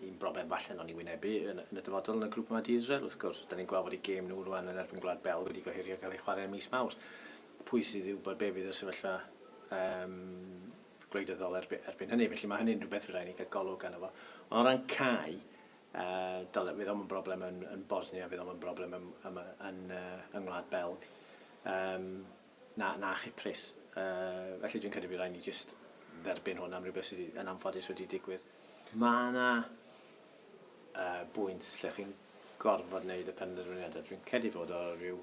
Un broblem falle wnawn ni wynebu yn, yn y dyfodol yn y grŵp yma di Israel, wrth gwrs. Da ni'n gweld bod eu gêm nhw rwan yn erbyn Gwlad Belg wedi gohirio cael ei chwarae ym mis Mawrth. Pwy sydd i wybod be fydd y sefyllfa um, gwleidyddol erbyn, erbyn hynny. Felly mae hynny'n rhywbeth fydda ni gael golwg gan efo. Ond o ran cau, uh, dyle, fydd o'n broblem yn, yn Bosnia, fydd o'n broblem yn, yn, yn, uh, yng Ngwlad Belg. Um, Na, na chyprus. Yy, felly dwi'n credu bydd rhaid ni jyst dderbyn hwn am rhywbeth sydd yn anffodus wedi digwydd. Mae yna uh, bwynt lle chi'n gorfod wneud y penderfyniadau. Dwi'n credu fod o rhyw,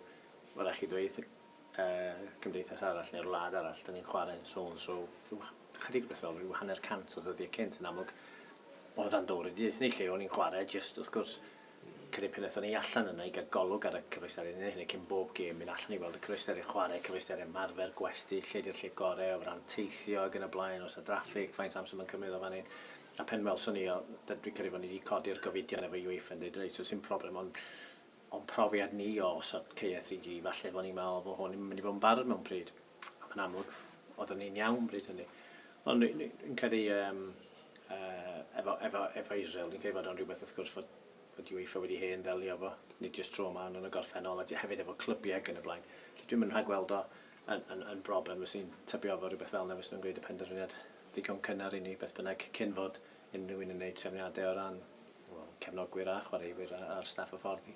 mae'n rhaid chi ddweud uh, cymdeithas arall neu'r wlad arall, da ni'n chwarae'n so and so, rhyw chydig beth fel rhyw hanner cant o ddyddiau cynt yn amlwg, oedd o'n dod i ddysgu ni lle o'n i'n chwarae, jyst wrth gwrs, Cyn y pun aethon ni allan yna i gael golwg ar y cyfleusterau, ni'n neud hynny cyn bob gêm, mynd allan i weld y cyfleusterau chwarae, cyfleusterau ymarfer, gwesty, lle di'r lle gorau o ran teithio ac yn y blaen, oes 'na draffig, faint o amser ma'n cymryd o fan hyn. A pen welson ni o, dwi'n credu fod ni 'di codi'r gofidion efo UEFA yn deud reit, so sim problem ond o'n profiad ni o osod caeau 3G, falle fo' ni'n meddwl fo' hwn yn mynd i fod yn barod mewn pryd. Mae'n amlwg, oeddwn ni'n iawn bryd hynny. Ond ni'n credu um, uh, efo, efo, efo Israel, ni'n credu fod o'n rhywbeth wrth gwrs fod bod UEFA wedi hen ddelio efo, nid jyst tro yma, ond yn y gorffennol, a hefyd efo clybiau ac yn y blaen. Felly dwi'n mynd rhag gweld o yn, yn, yn broblem, os ni'n tybio efo rhywbeth fel yna, fes nhw'n gwneud y penderfyniad ddigon cynnar i ni, beth bynnag, cyn fod unrhyw un yn gwneud trefniadau o ran well, cefnogwyr a chwaraewyr a'r staff y ffordd i.